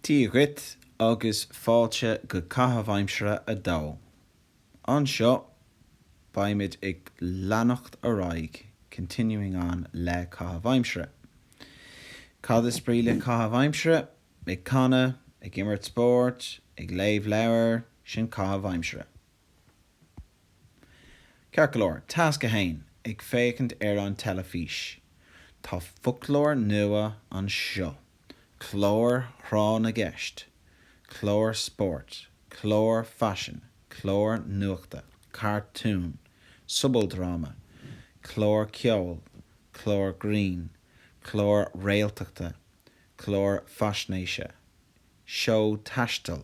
Dia dhuit agus fáilte go Caitheamh Aimsire 2. Anseo, beimid ag leanacht ar aghaidh, continuing on, le Caitheamh Aimsire. Cad is brí le Caitheamh Aimsire? Ag canadh, ag imirt spóirt, ag léamh leabhair, sin Caitheamh Aimsire. Ceart go leor, Tasc 1, ag féachaint ar an teilifís. Tá foclóir nua anseo, cláir thráth na gceist, cláir spóirt, cláir faisin, cláir nuachta, cartúin, sobaldráma, cláir ceoil, cláir grinn, cláir réaltachta, cláir faisnéise, seó taistil,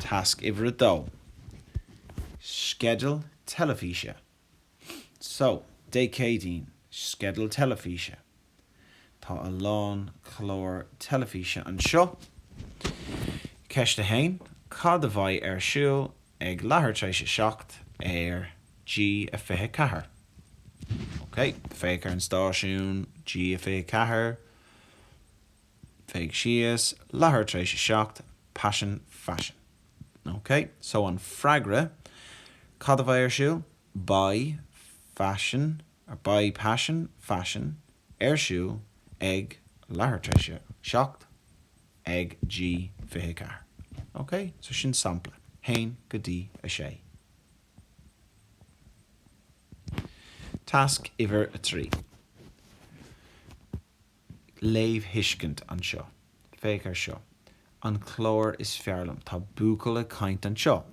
Tasc uimhir a dó, Sceideal teilifíse So, Dé Céadaoin, Sceideal teilifíse Tá a lán cláir teilifíse anseo. Ceist 1, Cad a bheidh ar siúl ag leathuair tar éis a seacht ar G24? OK, féach ar an stáisiún G24. féach síos, leathuair tar éis a seacht, paisean faisean. Ok, so an freagra, cad a bheidh ar siúl? Beidh faisean, or beidh paisean faisean ar siúl ag leathuair tar éis a seacht ag G24. Ok, so sin sampla, haon go dtí a sé. Tasc uimhir a trí. Léamhthuiscint anseo. Féach ar seo. An clár is fearr liom. Tá buachaill ag caint anseo.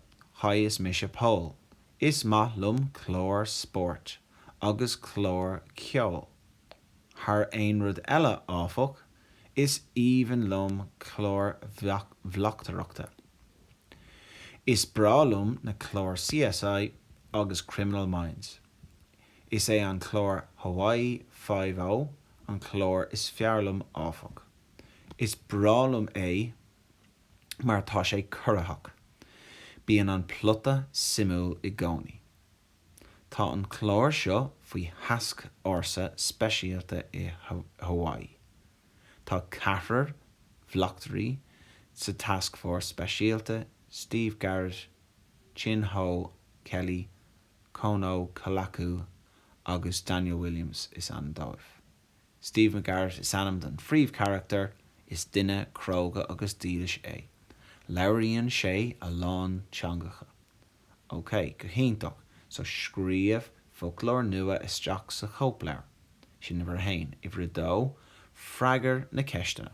Haigh is mise Pól. Is maith liom cláir spóirt. Agus cláir cheoil. Thar aon rud eile, áfach, is aoibhinn liom cláir bhleachtaireachta. Is breá liom na cláir CSI agus Criminal Minds. Is é an clár Hawaii Five-O an clár is fearr liom áfach. Is breá liom é mar tá sé corraitheach. Bíonn an plota suimiúil i gcónaí. Tá an clár seo faoi thascfhórsa speisialta i Hawaii. Tá ceathrar bhleachtairí sa tascfhórsa speisialta, Steve Garrett, Chin Ho, Kelly, Kono Kalaku agus Daniel Williams is ainm dóibh. Steve McGarrett is ainm don phríomhcharachtar, is duine cróga agus dílis é. Labhraíonn sé a lán teangacha. Ok, go hiontach, so scríobh foclóir nua isteach sa chóipleabhar. Sin uimhir a haon. Uimhir a dó, freagair na ceisteanna.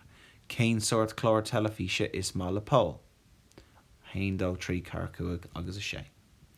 Cén sórt clár teilifíse is maith le Pól? A haon, dó, trí, ceathair, cúig agus a sé.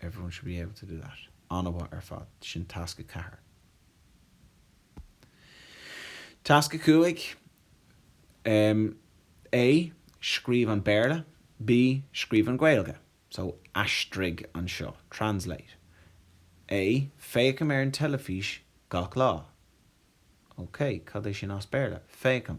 Everyone should be able to do that. An-mhaith ar fad. Sin tasc a ceathair. Tasc a cúig, em. A, Scríobh an Béarla B, Scríobh an Ghaeilge. So, aistrigh anseo. Translate. A, Féachaim ar an teilifís gach lá. Okay, cad é sin as Béarla? Féachaim.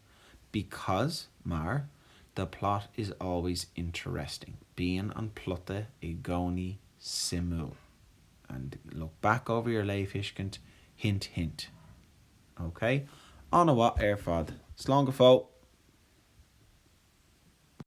Because, mar, the plot is always interesting, bíonn an plota i gcónaí suimiúil. And look back over your léamhthuiscint, hint hint. Okay? An-mhaith ar fad. Slán go fóill!